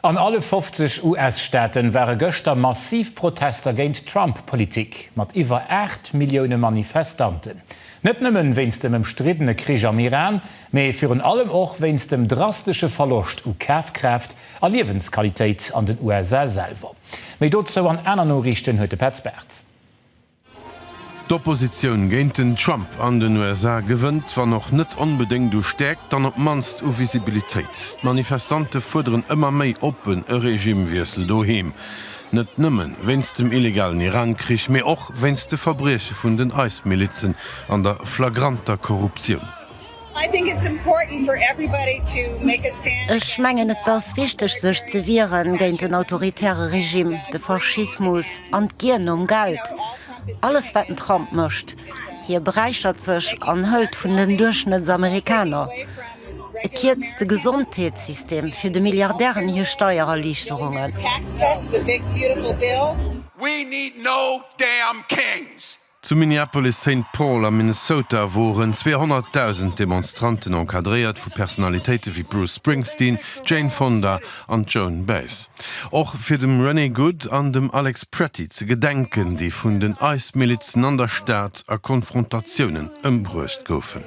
An alle 50 US-Staaten ware gëschter massiv Protester géint d'Trump-Politik, mat iwwer 8 Millioune Manifestanten. Net nëmmen wéinst dem ëmstriddene Krich am Iran, mee virun allem och wéinst dem drastesche Verloscht u Kafkraaft a Liewensqualitéit an den USA selwer. Méi dozou an aner Noriichten huet de Petz Bartz. D'Oppositioun géint den Trump an den USA gewënnt, wann och net onbedéngt u Stäerkt, dann op d'mannst u Visibilitéit. D'Manifestante fuerderen ëmmer méi oppen e Regimewiessel doheem, net nëmme wéinst dem illegalen Iran-Krich, mee och wéinst de Verbrieche vun den IS-Milizen an der flagranter Korruptioun. Ech mengen et ass wichteg sech ze wiere géint den autoritäre Regime, de Faschismus an d'Gier nom Geld. Alles wat den Trump mécht, hie beräichert sech an hëlt vun den Duerchschnëttsamerikaner. E kierzt de Gesondheetssystem fir de Milliardären hir Steiererliichterungen. Zu Minneapolis-Saint Paul am Minnesota woren 200.000 Demonstranten encadréiert vu Personalitéite wéi Bruce Springsteen, Jane Fonda an Joan Baez. Och fir dem Renee Good an dem Alex Pretty ze gedenken, déi vun den ICE-Milizen an der Stad a Konfrontatiounen ëmbruecht goufen.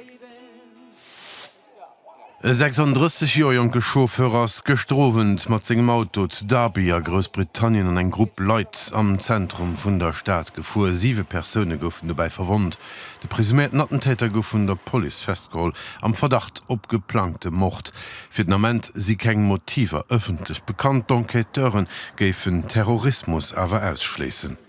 E 36 Joer jonke Chauffeur ass gëschter Owend mat sengem Auto zu Derby a Groussbritannien an eng Grupp Leit am Zentrum vun der Stad gefuer. Siwe Persoune goufen dobäi verwonnt. De presuméierten Attentäter gouf vun der Police festgeholl, am Verdacht op geplangte Mord. Fir den Ament si keng Motiver ëffentlech bekannt, d'Enquêteure géifen Terrorismus awer ausschléissen.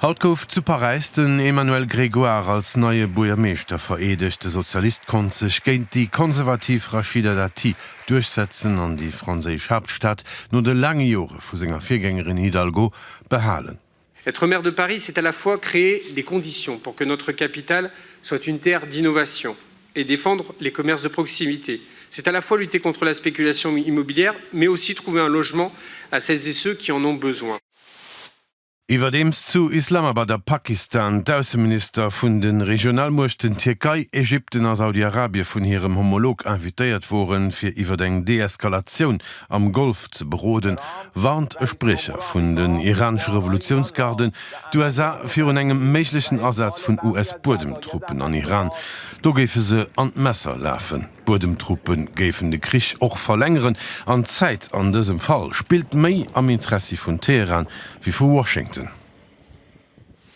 Haut gouf zu Paräis den Emmanuel Grégoire als neie Buergermeeschter vereedegt. De Sozialist konnt sech géint déi konservativ Rachida Dati duerchsetzen an déi franséisch Haaptstad no de laange Jore vu senger Virgängerin Hidalgo behalen. Être maire de Paris, c'est à la fois créer les conditions pour que notre capitale soit une terre d'innovation et défendre les commerces de proximité. C'est à la fois lutter contre la spéculation immobilière, mais aussi trouver un logement à celles et ceux qui en ont besoin. Iwwerdeems zu Islamabad a Pakistan d'Ausseminister vun de Regionalmuechten Tierkei, Ägypten a Saudi-Arabie vun hirem Homolog invitéiert woren, fir iwwer eng Deeskalatioun am Golf ze beroden, warnt e Spriecher vun den iranesche Revolutiounsgarden d'USA virun engem méiglechen Asaz vun US-Buedemtruppen an Iran. Do géife se an d'Messer lafen. D'Buedemtruppe géifen de Krich och verlängeren an d'Zäit an dësem Fall spillt méi am Interessi vun Teheran wéi vu Washington.